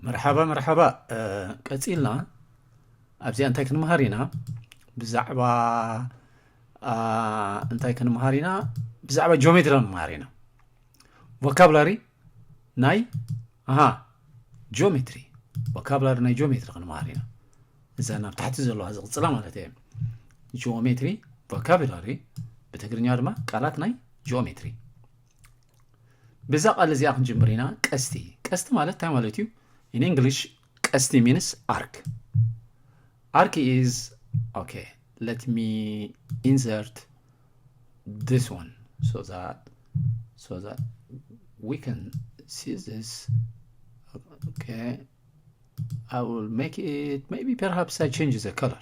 መርሓባ መርሓባ ቀጺልና ኣብዚኣ እንታይ ክንምሃር ኢና ብዛዕባ እንታይ ክንምሃር ኢና ብዛዕባ ጂኦሜትሪ ንምሃር ኢና ቮካብላሪ ናይ ኣሃ ጂኦሜትሪ ቮካብላሪ ናይ ጂኦሜትሪ ክንምሃር ኢና እዛ ናብ ታሕቲ ዘለዋ ዝቕፅላ ማለት እየ ጂኦሜትሪ ቮካብላሪ ብትግርኛ ድማ ቃላት ናይ ጂኦሜትሪ ብዛ ቃል እዚኣ ክንጅምር ኢና ቀስቲ ቀስቲ ማለት እንታይ ማለት እዩ ኢን እንግሊሽ ቀስቲ ሚንስ ኣርክ ኣርክ ኢዝ ኦኬ ለት ሚ ኢንሰርት ዲስ ዋን ሶ ዛት ሶ ዛት ዊ ካን ሲ ዚስ ኦኬ I will make it maybe perhaps I change the color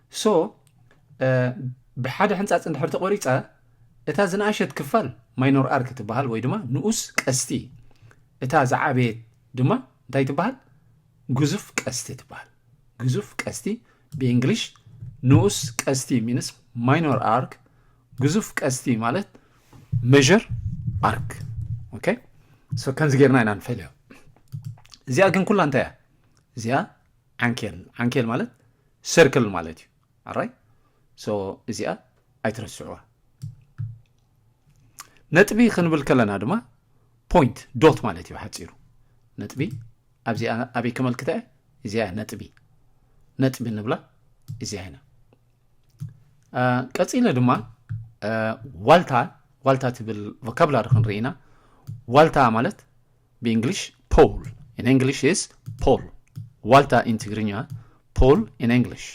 ሶ ብሓደ ሕንፃፅ እንድሕር ተቆሪፀ እታ ዝነኣሸት ክፋል ማይኖር ኣርክ ትበሃል ወይ ድማ ንኡስ ቀስቲ እታ ዝዓበየት ድማ እንታይ ትበሃል ግዙፍ ቀስቲ ትበሃል ግዙፍ ቀስቲ ብእንግሊሽ ንኡስ ቀስቲ ሚንስ ማይኖር ኣርክ ግዙፍ ቀስቲ ማለት መዥር ኣርክ ኦኬ ሶ ከምዚ ጌርና ኢና ንፈልዮ እዚኣ ግን ኩላ እንታይ እያ እዚኣ ዓንኬል ዓንኬል ማለት ሰርክል ማለት እዩ ኣራይ ሶ እዚኣ ኣይትረስዕዋ ነጥቢ ክንብል ከለና ድማ ፖይንት ዶት ማለት እዩ ሓፂሩ ነጥቢ ኣብዚኣ ኣበይ ከመልክተ እዚኣ ነጥቢ ነጥቢ ንብላ እዚኣ ኢና ቀፂለ ድማ ዋልታ ዋልታ ትብል ቮካብላሪ ክንርኢ ኢና ዋልታ ማለት ብእንግሊሽ ፖል ኢን እንግሊሽ ኢዝ ፖል ዋልታ ኢን ትግርኛ ፖል ኢን እንግሊሽ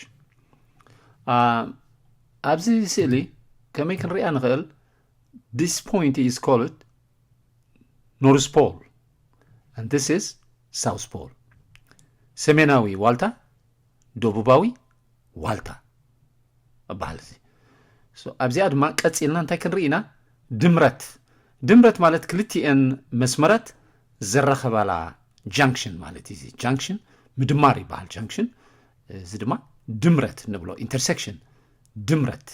ኣብዚ ስእሊ ከመይ ክንሪኣ ንኽእል ዲስ ፖይንት ኢዝ ኮልድ ኖርዝ ፖል ን ዲስ ኢዝ ሳውዝ ፖል ሰሜናዊ ዋልታ ደቡባዊ ዋልታ እባሃል እዚ ኣብዚኣ ድማ ቀጺልና እንታይ ክንርኢ ኢና ድምረት ድምረት ማለት ክልቲኤን መስመራት ዘራኸባላ ጃንክሽን ማለት እዩ እዚ ጃንክሽን ምድማር ይበሃል ጃንክሽን እዚ ድማ ድምረት ንብሎ ኢንተርሴክሽን ድምረት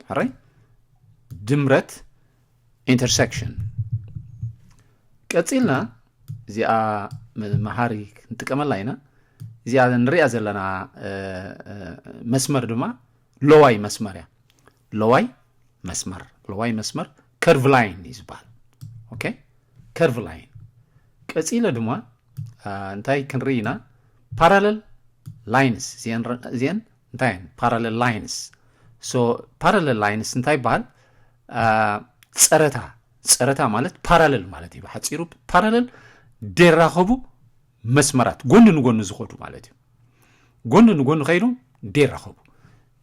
ሕራይ ድምረት ኢንተርሰክሽን ቀፂልና እዚኣ መሃሪ ክንጥቀመላ ኢና እዚኣ ንሪኣ ዘለና መስመር ድማ ለዋይ መስመር እያ ለዋይ መስመር ለዋይ መስመር ከርቭ ላይን እዩ ዝበሃል ኦኬ ከርቭ ላይን ቀፂለ ድማ እንታይ ክንርኢ ኢና ፓራለል ላይንስ እዚአን እንታይ እየን ፓራለል ላይንስ ሶ ፓራለል ላይንስ እንታይ ይበሃል ፀረታ ፀረታ ማለት ፓራለል ማለት እዩ ብሓፂሩ ፓራለል ደራኸቡ መስመራት ጎኒ ንጎኒ ዝኸዱ ማለት እዩ ጎኒ ንጎኒ ከይዶም ደራኸቡ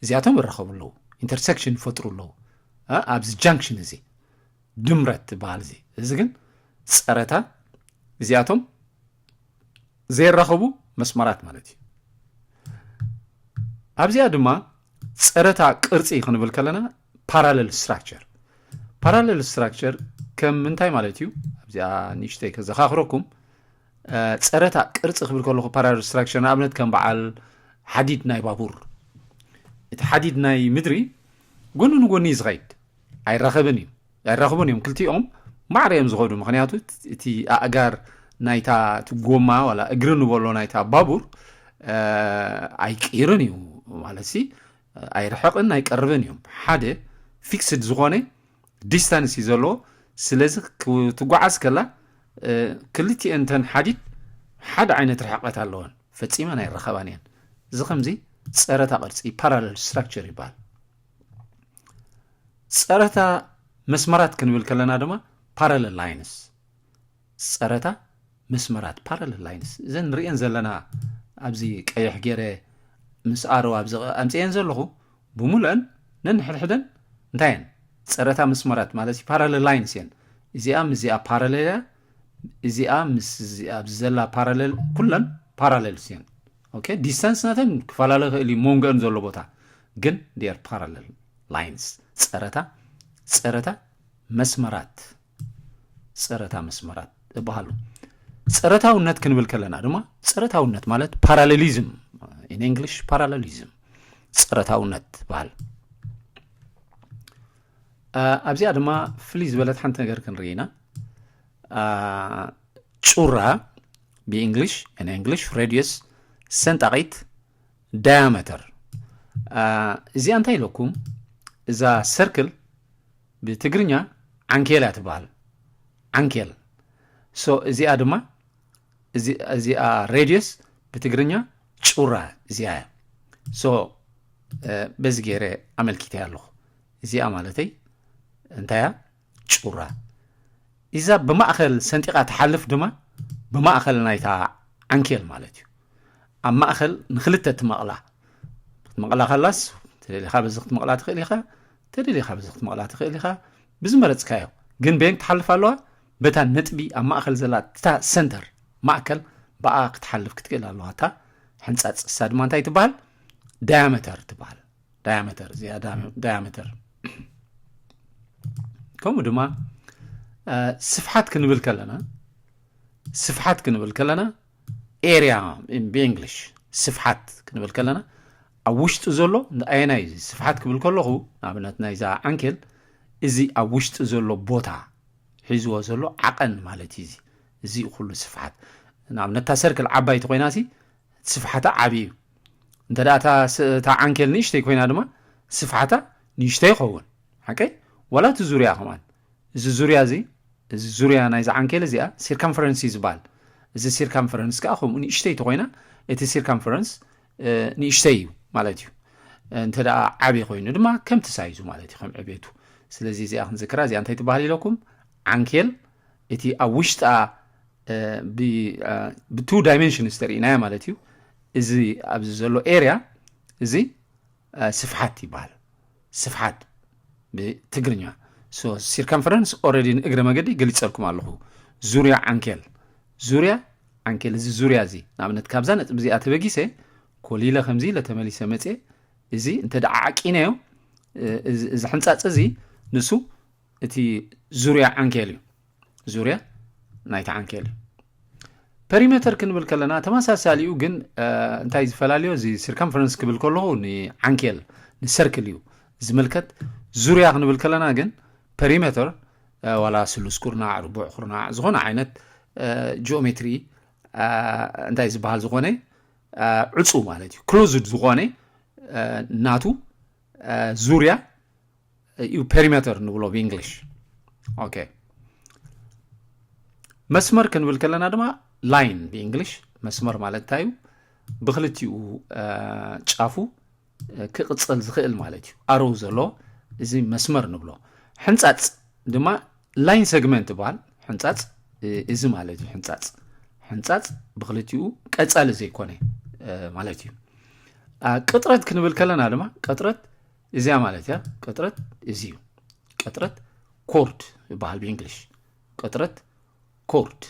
እዚኣቶም ይራኸቡ ኣለዉ ኢንተርሴክሽን ይፈጥሩ ኣለዉ እ ኣብዚ ጃንክሽን እዚ ድምረት ትበሃል እዚ እዚ ግን ፀረታ እዚኣቶም ዘየራኽቡ መስመራት ማለት እዩ። ኣብዚኣ ድማ ፀረታ ቅርፂ ክንብል ከለና ፓራለል ስትራክቸር ፓራለል ስትራክቸር ከም ምንታይ ማለት እዩ? ኣብዚኣ ንእሽተይ ከዘኻኽረኩም ፀረታ ቅርፂ ክብል ከለኹ ፓራለል ስትራክቸር ንኣብነት ከም በዓል ሓዲድ ናይ ባቡር እቲ ሓዲድ ናይ ምድሪ ጎኒ ንጎኒ እዩ ዝኸይድ ኣይራኸብን እዩ። ኣይራኽቡን እዮም ክልቲኦም ማዕረ እዮም ዝኸዱ ምክንያቱ እቲ ኣእጋር ናይታ እቲ ጎማ ዋላ እግሪ ንበሎ ናይታ ባቡር ኣይቅይርን እዩ ማለት ሲ ኣይርሕቕን ኣይቀርብን እዮም ሓደ ፊክስድ ዝኾነ ዲስታንስ እዩ ዘለዎ ስለዚ ክትጓዓዝ ከላ ክልቲኤን ተን ሓዲድ ሓደ ዓይነት ርሕቀት ኣለወን ፈፂመን ኣይረኸባን እየን እዚ ከምዚ ፀረታ ቅርፂ ፓራለል ስትራክቸር ይበሃል ፀረታ መስመራት ክንብል ከለና ድማ ፓራለል ላይንስ ፀረታ መስመራት ፓራለል ላይንስ እዘን ንሪኤን ዘለና ኣብዚ ቀይሕ ገይረ ምስ ኣሮ ኣብዚ ኣምፅኤን ዘለኹ ብምሉአን ነንሕድሕደን እንታይ እየን ፀረታ መስመራት ማለት እዩ ፓራለል ላይንስ እየን እዚኣ ምስ እዚኣ ፓራለል እያ እዚኣ ምስ እዚኣ ኣብዚ ዘላ ፓራለል ኩለን ፓራለልስ እየን ኦኬ ዲስታንስ ናተን ክፈላለ ይኽእል እዩ መንጎአን ዘሎ ቦታ ግን they are parallel lines ጸረታ ጸረታ መስመራት ጸረታ መስመራት እባሃሉ ጸረታውነት ክንብል ከለና ድማ ጸረታውነት ማለት ፓራሌሊዝም ኢን እንግሊሽ ፓራሌሊዝም ጸረታውነት በሃል ኣብዚኣ ድማ ፍልይ ዝበለት ሓንቲ ነገር ክንርኢ ኢና ጩራ ብእንግሊሽ ን እንግሊሽ ሬድየስ ሰንጣቂት ዳያመተር እዚኣ እንታይ ኢለኩም እዛ ሰርክል ብትግርኛ ዓንኬል እያ ትበሃል ዓንኬል ሶ እዚኣ ድማ እዚኣ ሬድየስ ብትግርኛ ጩራ እዚኣ እያ ሶ በዚ ገይረ ኣመልኪተ ኣለኹ እዚኣ ማለተይ እንታይ እያ ጩራ ኢዛ ብማእከል ሰንጢቃ ትሓልፍ ድማ ብማእከል ናይታ ዓንኬል ማለት እዩ ኣብ ማእከል ንክልተ ትመቕላ ክትመቕላ ከላስ ተደሊኻ በዚ ክትመቕላ ትኽእል ኢኻ ተደሊኻ በዚ ክትመቕላ ትኽእል ኢኻ ብዝመረፅካዮ ግን በየን ክትሓልፍ ኣለዋ በታ ነጥቢ ኣብ ማእከል ዘላ እታ ሰንተር ማእከል ብኣ ክትሓልፍ ክትክእል ኣለዋ እታ ሕንፃፅ እሳ ድማ እንታይ ትበሃል ዳያመተር ትበሃል ዳያመተር እዚኣ ዳያመተር ከምኡ ድማ ስፍሓት ክንብል ከለና ስፍሓት ክንብል ከለና ኤርያ ብእንግሊሽ ስፍሓት ክንብል ከለና ኣብ ውሽጢ ዘሎ ኣየናይ እዩ ስፍሓት ክብል ከለኹ ንኣብነት ናይዛ ዓንኬል እዚ ኣብ ውሽጢ ዘሎ ቦታ ሒዝዎ ዘሎ ዓቐን ማለት እዩ እዚ እዚ ኩሉ ስፍሓት ንኣብነት እታ ሰርክል ዓባይቲ ኮይና ሲ እቲ ስፍሓታ ዓቢ እዩ። እንተ እታ እታ ዓንኬል ንእሽተይ ኮይና ድማ ስፍሓታ ንእሽተይ ይኸውን። ሓቀይ? ዋላ እቲ ዙርያ ከማን። እዚ ዙርያ እዚ እዚ ዙርያ ናይዚ ዓንኬል እዚኣ ሲርካምፈረንስ እዩ ዝበሃል። እዚ ሲርካምፈረንስ ከኣ ከምኡ ንእሽተይ ተኮይና እቲ ሲርካምፈረንስ ንእሽተይ እዩ ማለት እዩ። እንተ ደኣ ዓብዪ ኮይኑ ድማ ከምቲ ሳይዙ ማለት እዩ ከም ዕቤቱ። ስለዚ እዚኣ ክንዝክራ እዚኣ እንታይ ትበሃል ኢለኩም? ዓንኬል እቲ ኣብ ውሽጣ ብቱ ዳይመንሽንስ ተርእናዮ ማለት እዩ እዚ ኣብዚ ዘሎ ኤርያ እዚ ስፍሓት ይበሃል ስፍሓት ብትግርኛ ሲርከንፈረንስ ኦረዲ ንእግረ መገዲ ገሊፀልኩም ኣለኹ ዙርያ ዓንኬል ዙርያ ዓንኬል እዚ ዙርያ እዚ ንኣብነት ካብዛ ነጥቢ እዚኣ ተበጊሰ ኮሊለ ከምዚ ኢለ ተመሊሰ መፀ እዚ እንተ ደዓ ዓቂነዮ እዚ ሕንፃፅ እዚ ንሱ እቲ ዙርያ ዓንኬል እዩ ዙርያ ናይቲ ዓንኬል እዩ ፐሪሜተር ክንብል ከለና ተመሳሳሊኡ ግን እንታይ ዝፈላለዮ እዚ ሲርከምፈረንስ ክብል ከለኹ ንዓንኬል ንሰርክል እዩ ዝምልከት ዙርያ ክንብል ከለና ግን ፐሪሜተር ዋላ ስሉስ ኩርናዕ ርቡዕ ኩርናዕ ዝኾነ ዓይነት ጂኦሜትሪ እንታይ ዝበሃል ዝኾነ ዕፁ ማለት እዩ ክሎዝድ ዝኾነ ናቱ ዙርያ እዩ ፔሪሜተር ንብሎ ብእንግሊሽ ኦኬ መስመር ክንብል ከለና ድማ ላይን ብእንግሊሽ መስመር ማለት እንታይ እዩ ብክልቲኡ ጫፉ ክቕፅል ዝኽእል ማለት እዩ ኣሮው ዘሎ እዚ መስመር ንብሎ ሕንፃፅ ድማ ላይን ሰግመንት ይበሃል ሕንፃፅ እዚ ማለት እዩ ሕንፃፅ ሕንፃፅ ብክልቲኡ ቀፃሊ ዘይኮነ ማለት እዩ ቅጥረት ክንብል ከለና ድማ ቅጥረት እዚያ ማለት እያ ቅጥረት እዚ እዩ ቅጥረት ኮርድ ይበሃል ብእንግሊሽ ቅጥረት ኮርድ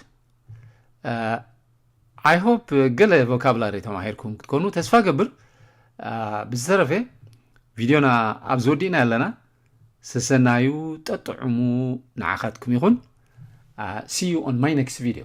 ኣይ ሆፕ ገለ ቮካብላሪ ተማሂርኩም ክትኮኑ ተስፋ ገብር ብዝተረፈ ቪድዮና ኣብ ዝወዲእና ኣለና ሰሰናዩ ጠጥዑሙ ንዓኻትኩም ይኹን ሲዩ ኦን ማይ ኔክስት ቪድዮ